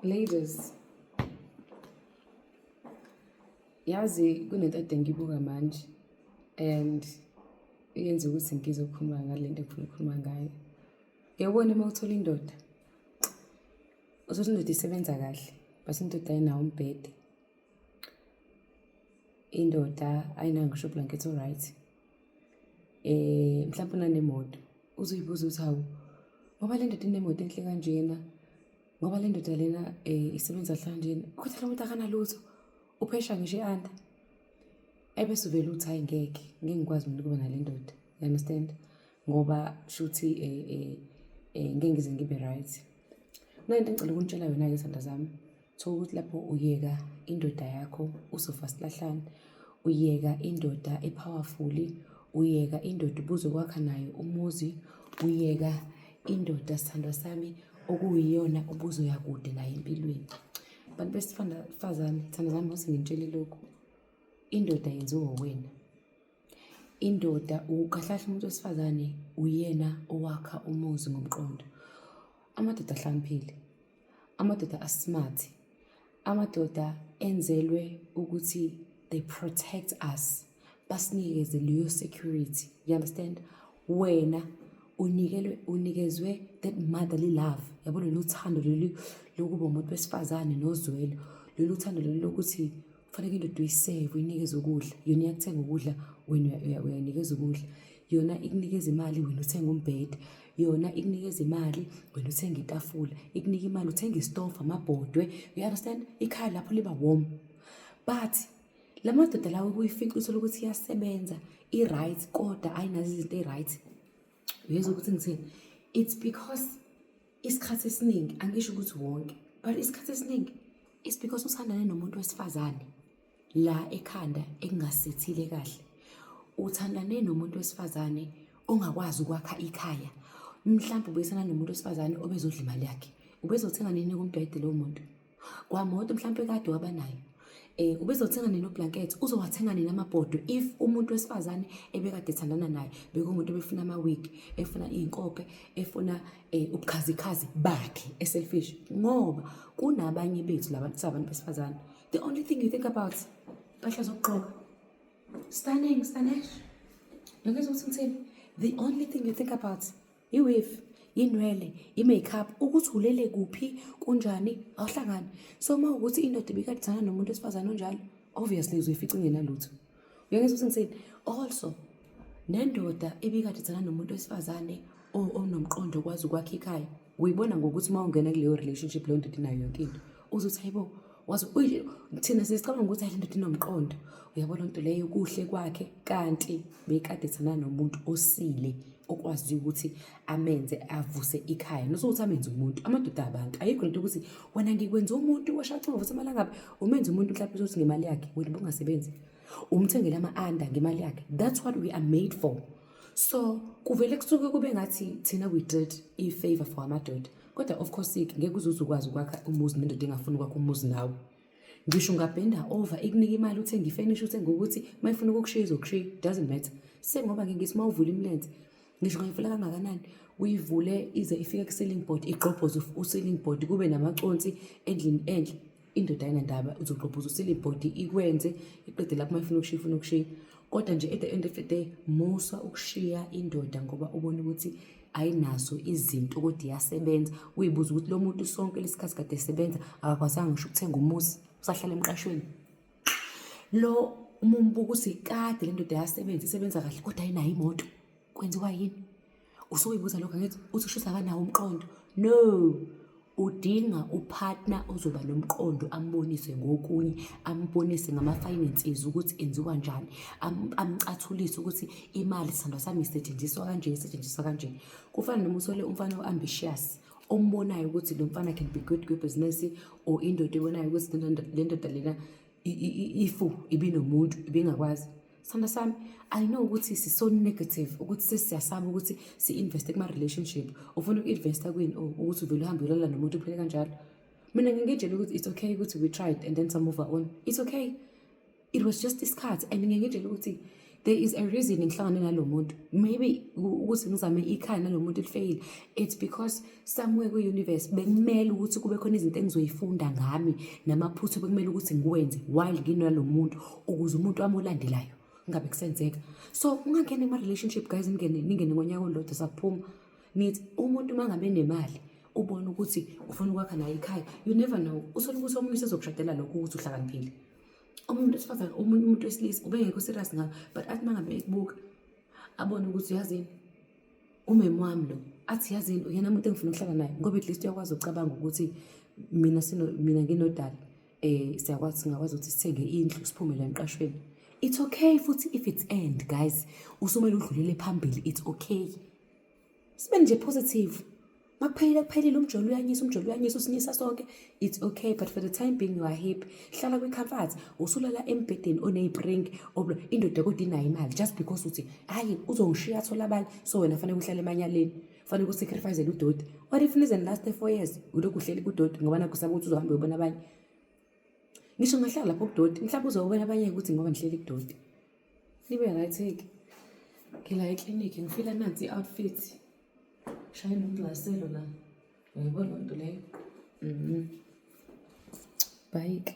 Ladies, yazi kunento ade ngibuka manje and yenza ukuthi ngizokhuluma ngale nto engifuna ukukhuluma ngayo. Uyabona uma uthola indoda, uthole indoda isebenza kahle but indoda ayinawo umbhede. indoda ayinayo ngisho blanket oright eh mhlawumbe unanemoto uzoyibuza ukuthi hawu ngoba le ndoda inemoto enhle kanjena ngoba le ndoda lena um isebenza hlanjena ukuthi lo muntu akanalutho uphesha ngisho i-anda ebese uvele uthi hayi ngeke ngeke ngikwazi mina ukuba nale ndoda you understand ngoba shuthi um eh, um eh, um eh, ngeke ngize ngibe right kunento engicela ukunitshela yona-ke sanda zami Thola ukuthi lapho uyeka indoda yakho uzofa silahlane, uyeka indoda ephawafuli, uyeka indoda ubuze kwakha nayo umuzi, uyeka indoda sithandwa sami okuyiyona ubuzoya kude nayo empilweni. Bantu besifazane, sithandwa sami ngose ngintshele lokhu, indoda yenziwa uwena. Indoda ukukahlahla umuntu wesifazane uyena owakha umuzi ngomqondo. Amadoda ahlakaniphile amadoda asmart amadoda enzelwe ukuthi they protect us basinikeze leyo security you understand wena unikelwe unikezwe that motherly love yabo lolu thando lolu lokuba umuntu wesifazane nozwelo lolu thando lolu lokuthi kufaneke indoda uyiseve uyinikeze ukudla yona iyakuthenga ukudla wena uyayinikeza ukudla yona ikunikeza imali wena uthenga umbhede yona ikunikeza imali wena uthenga itafula ikunika imali uthenga istofu amabhodwe you understand ikhaya lapho liba warm but la madoda lawo kuyifica uthole ukuthi iyasebenza i-right kodwa ayinazo izinto eyi-right uyezwa ukuthi ngithini it's because isikhathi esiningi angisho ukuthi wonke but isikhathi esiningi is because usandane nomuntu wesifazane la ekhanda ekungasethile kahle uthandane nomuntu wesifazane ongakwazi ukwakha ikhaya mhlawumbe ubuyisana nomuntu wesifazane obezodla imali yakhe ubezothenga nini kumbhede lowo muntu kwamoto mhlawumpe kade wabanayo um eh, ubezothenga nini oblanket uzowathenga nini amabhodwe if umuntu wesifazane ebekade ethandana naye bekungumuntu ebefuna ama-wig efuna iy'nkope efuna um eh, ubukhazikhazi bakhe eselfish ngoba kunabanye bethu labantu sabantu besifazane the only thing you think about mpahla zokugqoka stunning stanesh nokezwa ukuthi ngithini the only thing you think about iwifi inwele i-makeup ukuthi ulele kuphi kunjani awuhlangani so uma ukuthi indoda ibikadizana nomuntu wesifazane onjalo obviously uzoyifica ingenalutho uyangizwa ukuthi ngisini also nendoda ibikadizana nomuntu wesifazane onomqondo okwazi ukwakha ikhaya uyibona ngokuthi uma ungena kuleyo relationship leyo ndoda inayo yonke into uzothi hayibo waze thina sesicabanga ukuthi ayi lendoda inomqondo uyabo loo nto leyo kuhle kwakhe kanti bekade thana nomuntu osile okwazi ukuthi amenze avuse ikhaya nosokuthi amenze umuntu amadoda abantu ayikho lento ukuthi wena ngikwenza umuntu washacinga ukuthi imali angabe umenze umuntu mhlawumbe uzothi ngemali yakhe wena bungasebenzi umthengele ama-anda ngemali yakhe that's what we are made for so kuvele kusuke kube ngathi thina we did i-favor for amadoda kodwa of course ke ngeke uzuze ukwazi ukwakha umuzi nendoda engafuni ukwakha umuzi nawe ngisho ungabhenda over ikunika imali uthenge ifenisha uthenge ukuthi uma ifuna ukukushiya izokushiya doesn't matter sengoba ke ngithi uma uvula imilenze ngisho ungayivula kangakanani uyivule ize ifike ku-ceiling board igqobhoze u-ceiling board kube namaconsi endlini enhle indoda ayinandaba uzogqobhuza usile ibhodi ikwenze iqede lapho uma ifuna ukushiya ifuna ukushiya kodwa nje at the end of the day musa ukushiya indoda ngoba ubona ukuthi ayinazo izinto kodwa iyasebenza uyibuza ukuthi lo muntu sonke lesikhathi kade esebenza akakwazanga ngisho ukuthenga umuzi usahlala emqashweni lo uma umbuka ukuthi kade le ndoda yasebenza isebenza kahle kodwa ayinayo imoto kwenziwa yini usuyibuza lokho angithi uthi ushisa akanawo umqondo no udinga upartner ozoba nomqondo ambonise ngokunye ambonise ngama-finances ukuthi enziwa njani amcathulise ukuthi imali sithandwa sami isetshenziswa kanje isetshenziswa kanje kufana noma usole umfana o-ambitious ombonayo ukuthi lo mfana can be good kwibusiness or indoda ebonayo ukuthi le ndoda lena ifu ibinomuntu ibingakwazi sanda sami i know ukuthi siso negative ukuthi sesiyasaba ukuthi si-investe kuma-relationship ufuna uku-investa kwini o oh, ukuthi uvele uhambe ulala nomuntu uphele kanjalo mina ngingitshela ukuthi it's okay ukuthi we tried and then some move on it's okay it was just isikhathi and ngingitshela ukuthi there is a reason ngihlangane nalo muntu maybe ukuthi ngizame ikhaya nalo muntu lifeyile it's because somewhere kwi-universe bekumele ukuthi kube khona izinto engizoyifunda ngami namaphutha bekumele ukuthi ngiwenze while nginalo muntu ukuze umuntu wami olandelayo ngabe kusenzeka so ungangena ema-relationship guys ningene ningene ngonyaka olodwa sakuphuma nithi umuntu uma ngabe nemali ubone ukuthi ufuna ukwakha naye ikhaya you never know uthole ukuthi omunye usezokushadela lokho ukuthi uhlakaniphile umuntu wesifazane omunye umuntu wesilisa ubengekho serious ngayo but athi mangabe ekubuka abone ukuthi uyazini umeme wami lo athi yazini uyena muntu engifuna ukuhlala naye ngoba at least uyakwazi ukucabanga ukuthi mina sino mina nginodala eh siyakwazi singakwazi ukuthi sithenge indlu siphume la emqashweni it's okay futhi if it's end guys usumele udlulele phambili it's okay sibe nje positive makuphelile kuphelile umjolo uyanyisa umjolo uyanyisa usinyisa sonke it's okay but for the time being you are happy hlala kwi-comfort usulala embhedeni oneyipring indoda kodwa inayo imali just because uthi hhayi uzongishiya athola abanye so wena fanele uhlale emanyaleni fanele usacrificele udoti what if nize last four years ulokhu uhleli kudoti ngoba nakho saba ukuthi uzohambe ubona abanye ngisho ngahlala lapho kudoti mhlawumbe uzobona abanye ukuthi ngoba ndihleli kudoti Ibe right ke. Ngila eclinic ngifila nansi outfit. Shaya nomglaselo la. Uyayibona into leyo? Mhm. Bye.